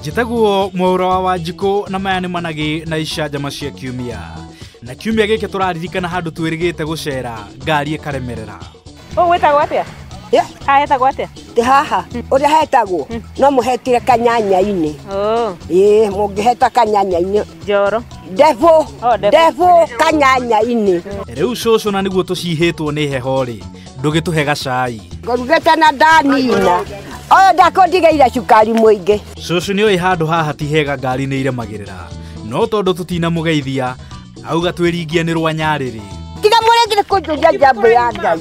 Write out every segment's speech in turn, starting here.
njĩtaguo mwaura wa wanjikũ na maya nĩ managĩ na icanjama cia kiumia na kiumia gĩkĩ tũraririkana handũ twĩrĩgĩte gũcera ngari ĩkaremerera Ũũ wĩtagwo atĩa? Yeah. Haha hetagwo atĩa? Ndĩ haha ũrĩa hetagwo no mũhetire kanyanya-inĩ Oh, ĩĩ mũngĩheta kanyanya-inĩ njoro. ndebũ Oh, ndebũ. ndebũ kanyanya-inĩ rĩu cũcũ na nĩguo tũcihĩtwo nĩ heho-rĩ ndũgĩtũhe gacai ngorugĩte na ndanina ũyũ ndakũndigeire cukari mũingĩ cũcũ nĩ ũĩ handũ haha ti hega ngari nĩ iremagĩrĩra no tondũ tũtinamũgeithia auga twĩringie nĩ rwa nyarĩrĩ tiga mũregire kũnjũria njambo ya ngai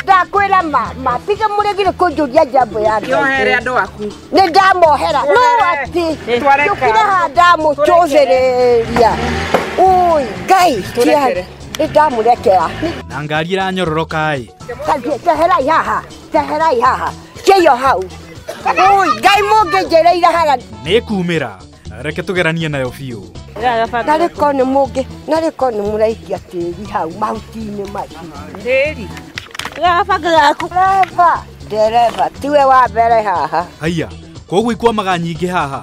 ndakwĩra mama tiga mũregire kũnjũria njambo ya ngai yohere andå aku nĩ ndamohera no atĩ Twareka. njũkire haha ndamũcũthĩrĩria ui ngai Tũrekere. tia nĩndamurekera na ngari ĩranyororokaĩ teherai haha teherai haha kĩyo hau Ui, ngai mũngĩnjĩrĩire haga nĩkumĩra reke tũgeranie nayo biũ na rĩko nĩ mũngĩ na rĩko nĩ mũraikia tĩri hau mahuti-inĩ macio Ndĩri. Gaba gaku. Dereva, dereva, tiwe wa mbere haha. haiya koguo ikwamaga nyingĩ haha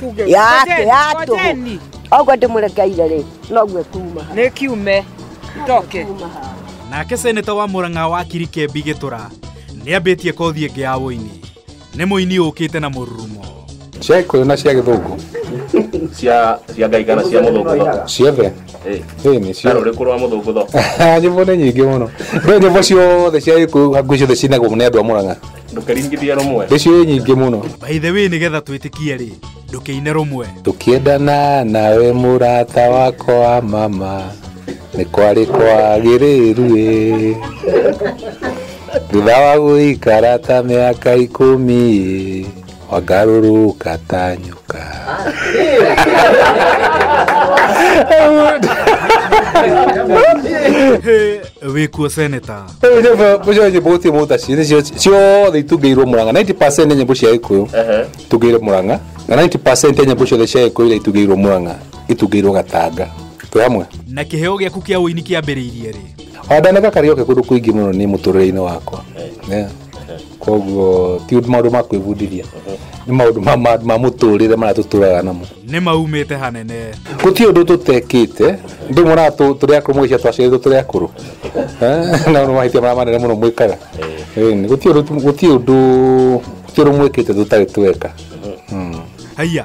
tuge yake Ngojeni, yatå ngojeni. oguo ndä må rekeire rä noguo kuma nä kiume ndoke nake seneta wa mũrang'a wa kirikembi gĩtũra nĩ ambĩtie kothi ĩngĩ ya ũini nĩ mũini ũkĩte na mũrurumo cia gĩkũyũ na cia gĩthũngũ cia cia ngai kana cia mũthũngũtho ciothe Eh, ĩĩ nĩ cio karũrĩ kũrwa mũthũngũtho nyĩmbo nĩ nyingĩ mũno ndĩ nyĩmbo ciothe cia gĩkũyũ hakuhĩ ciothe cinagwo nĩ andũ a mũrang'a ndũkeringithia rũmwe Ndĩcio ĩ nyingĩ mũno. by the way nĩgetha twĩtĩkie rĩ ndũkĩine rũmwe Tũkĩendana nawe mũrata wako wa mama nĩ kwarĩ kwagĩrĩru ĩ thutha wa gũikara ta mĩaka ikũmi ĩ wangarũrũka ta nyoka wĩkuo seneta Rĩu nyĩmbo mũcio nyĩmbo gũtirĩ mũtaci nĩcio ciothe itungĩirwo mũranga 90% nĩ nyĩmbo cia gĩkũyũ Ehe. itungĩirwo mũranga na 90% ya nyĩmbo ciothe cia gĩkũyũ iria itungĩirwo mũranga itungĩirwo gatanga twĩ hamwe na kĩheo gĩaku kĩa ũini kĩambĩrĩirie rĩ wandaneka karioke kũndũ kũingĩ mũno nĩ mũtũrĩre-inĩ wakwa Yeah. koguo ti maundu ma kwĩbundithia nĩ maundu ma- ma- ma mũtũrĩre marĩa tũtũraga namo nĩ maumĩte hanene gũtirĩ ũndũ tũtekĩte ndĩ mwana tũ- tũrĩ akũrũ mũgĩcia twaciarirwo tũrĩ akũrũ Eh, na nĩ mahĩtia marĩa manene mũno mwĩkaga Ĩni, gũtirĩ ũndũ tu- gũtirĩ ũndũ gũtirĩ ũndũ mwĩkĩte tũtarĩ tweka haiya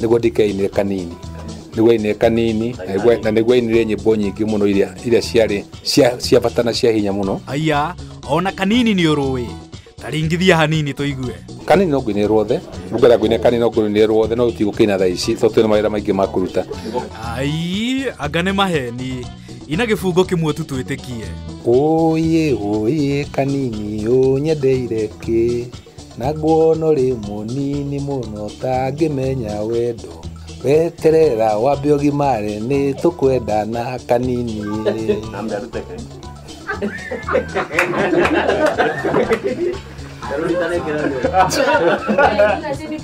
niguo ndikainire kanini niguo ainire kanini na nĩguo- na niguo ainire nyĩmbo nyingĩ mũno iria iria ciarĩ cia- cia bata na cia hinya mũno aya ona kanini nĩ ũrũĩ taringithia hanini tũigue kanini no ngũinire ruothe ngwenda ngũinire kanini no ngũinire ruothe no tigũkĩina thaa ici tondũ twĩna mawĩra maingĩ ma kũruta ai anga nĩ maheni ina gĩbungo kĩmwe tu twĩtĩkie ũyĩ ũyĩ kanini ũnyendeire kĩ Na nguono rĩ mũnini mũno tangĩmenya wendo weterera wambe ũgimare nĩ tũkwenda na kanini Rũrita nĩ kĩremithia.